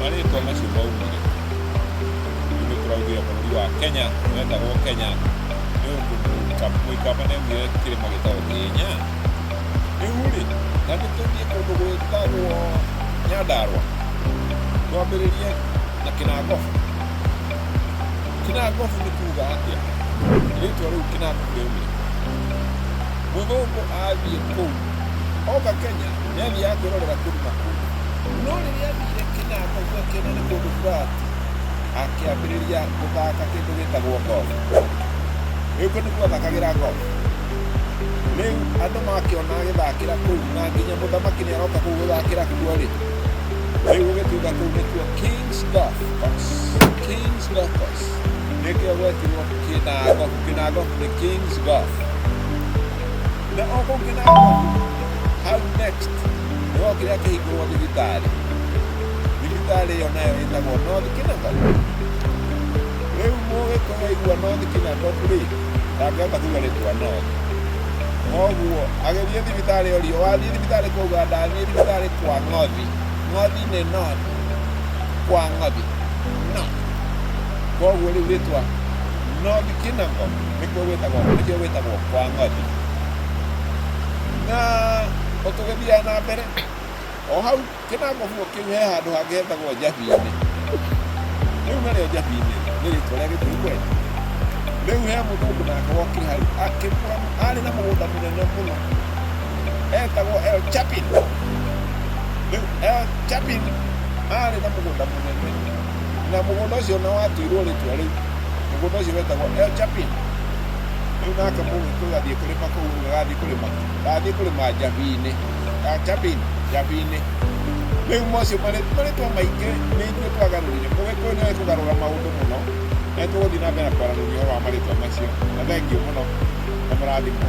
marĩtwa macio maumire nĩ tũraugire bũrũri wa kenya wetagwo kenya nĩ ũndũ mũikamba nĩ augire kĩrĩma gĩtagwo kĩnya rĩu rĩ na nĩ tũthiĩ kũndũ gwĩtagwo nyandarwa twambĩrĩrie na kĩnangobu kĩnangobu nĩ kuga atĩa rĩtwa rĩu kĩnangobu rĩaumire mũthũngũ athiĩ kũu oka kenya nĩ aathiaga kwĩrorera kĩrima kũu. No rĩrĩa athire kĩna akaigua kĩna nĩ kũndũ flat, akĩambĩrĩria gũthaka kĩndũ gĩtagwo golf. Rĩu kũu nĩkuo athakagĩra golf. Rĩu andũ makĩona agĩthakĩra kũu na nginya mũthamaki nĩ aroka kũu gũthakĩra kuo-rĩ, rĩu gũgĩtuĩka kũu nĩkuo King's Golf Course. King's Golf Course. Nĩkĩo gwetirwo Kĩnangobu. Kĩnangobu nĩ King's Golf. na o kũngĩ na ngũthi hau next nĩ o kĩrĩa kĩhingũrwo thibitarĩ thibitarĩ ĩyo nayo ĩtagwo north kinagot rĩu mũgĩkũyũ aigua north kinagot rĩ ndangĩhota kuga rĩtwa north koguo agĩthiĩ thibitarĩ ĩyo riũ wathiĩ thibitarĩ kuga ndathiĩ thibitarĩ kwa ng'othi ng'othi nĩ north kwa ng'othi north koguo rĩu rĩtwa north kinagot nĩkuo gwĩtagwo nĩkĩo gwĩtagwo kwa ng'othi na ũtũgĩthiaga na mbere o hau kĩnango guo kĩu he handũ hangĩ hetagwo njabi-inĩ rĩu narĩo njabi-inĩ nĩ rĩtwa rĩa gĩkũyũ kweli rĩu he mũthũngũ nake wokĩ hau akĩgũra arĩ na mũgũnda mũnene mũno etagwo El Chapin rĩu El Chapin arĩ na mũgũnda mũnene Na mũgũnda ũcio nĩ watuirwo rĩtwa rĩu. Mũgũnda ũcio wetagwo El Chapin. Rĩu nake mũgĩkũyũ athiĩ kũrĩma kũu rĩu agathiĩ kũrĩma kĩ? Ndathiĩ kũrĩma Njabinĩ. El Chapin, Njabinĩ. Rĩu macio marĩ- marĩtwa maingĩ nĩ ithuĩ twagarũrire. Mũgĩkũyũ nĩ oĩ kũgarũra maũndũ mũno. Na nĩ tũgũthiĩ na mbere na kwaranĩria ũhoro wa marĩtwa macio. Na thengiũ mũno. Na mũrathimwo.